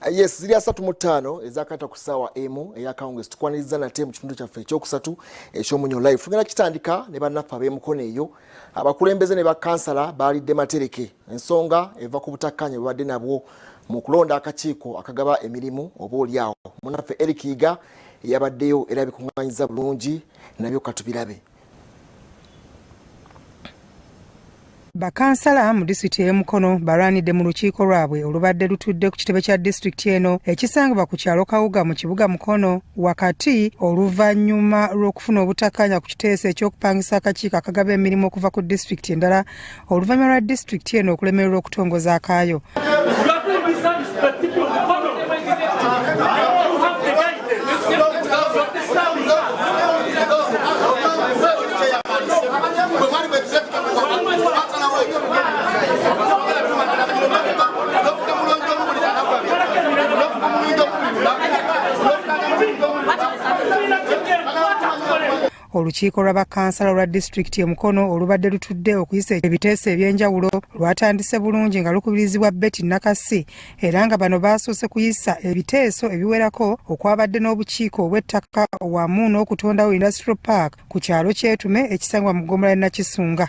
Eh, yes ziri asatu mu ttaano ezakata ku ssaawa emu eyakawungeezi tukwaniriza nate mu kitundu kyaffe ekyokusatu ekyomunyo life tugenda kitandika ne bannaffe ab'emukono eyo abakulembeze ne bakansala baalidde matereke ensonga eva ku butakkaanya bwebadde nabwo mu kulonda akakiiko akagaba emirimu oba olyawo munaffe eric yiga yabaddeyo era bikuŋŋanyiza bulungi nabyo katubirabe bakansala mu disitulikiti ey'e mukono balwanidde mu lukiiko lwabwe olubadde lutudde ku kitebe kya disitulikiti eno ekisangibwa ku kyalo kawuga mu kibuga mukono wakati oluvannyuma lw'okufuna obutakanya ku kiteeso eky'okupangisa akakiiko akagaba emirimu okuva ku disitulikiti endala oluvannyuma lwa disitulikiti eno okulemererwa okutongoza akaayo olukiiko lwa bakansala olwa disitulikiti e mukono olubadde lutudde okuyisa ebiteeso ebyenjawulo lwatandise bulungi nga lukubirizibwa betty nakasi era nga bano baasoose kuyisa ebiteeso ebiwerako okwabadde n'obukiiko obw'ettaka wamu n'okutondawo industrial park ku kyalo kyetume ekisangibwa mu ggomola ya nakisunga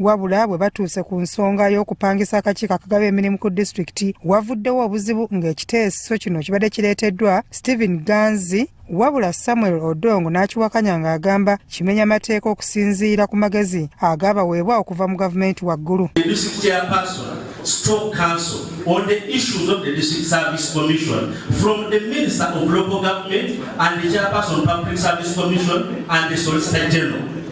wabula bwe batuuse ku nsonga y'okupangisa akakiiko akagaba emirimu ku disitulikiti wavuddewo obuzibu ng'ekiteeso kino kibadde kireeteddwa stephen ganzi wabula samuel odongo n'akiwakanya ng'agamba kimenya mateeka okusinziira ku magezi agaabaweebwa okuva mu gavumenti waggulu Stroke Council on the issues of the District Service Commission from the Minister of Local Government and the Chairperson Public Service Commission and the Solicitor General.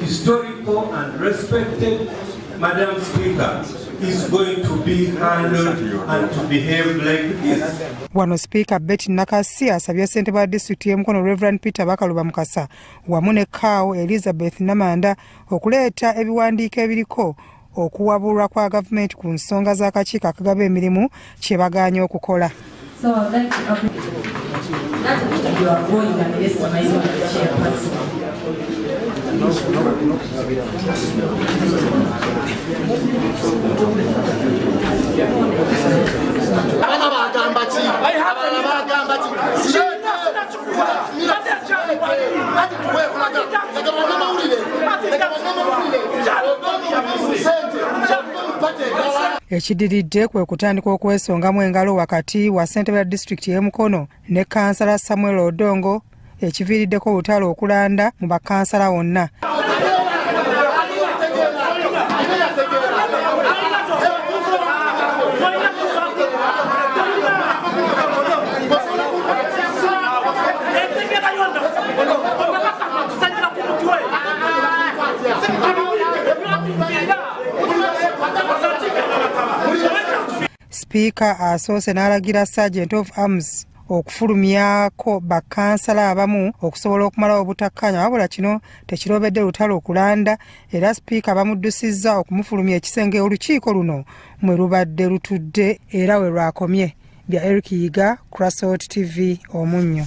Historical and respected Madam Speaker is going to be handled and to behave like this. Wano Speaker Betty Nakasi asabye ssentebe wa disitulikiti y'e Mukono Reverend Peter Bakaluba Mukasa wamu ne Kaawo Elizabeth Namanda okuleeta ebiwandiiko ebiriko okuwabulwa kwa gavumenti ku nsonga z'akakiiko akagaba emirimu kye bagaanye okukola abana bagamba ki abana bagamba ki ekidiridde kwe kutandika okwesongamu engalo wakati wa ssentebe ya disitulikiti y'e mukono ne kansala samuel odongo ekiviiriddeko olutalo okulanda mu bakansala wonna sipiika asoose n'alagira sergeant of arms okufulumyako bakansala abamu okusobola okumalawo obutakkaanya wabula kino tekirobedde lutalo okulanda era sipiika bamuddusizza okumufulumya ekisenge olukiiko luno mwe lubadde lutudde era we lwakomye bya eric yiga crasot tv omunnyo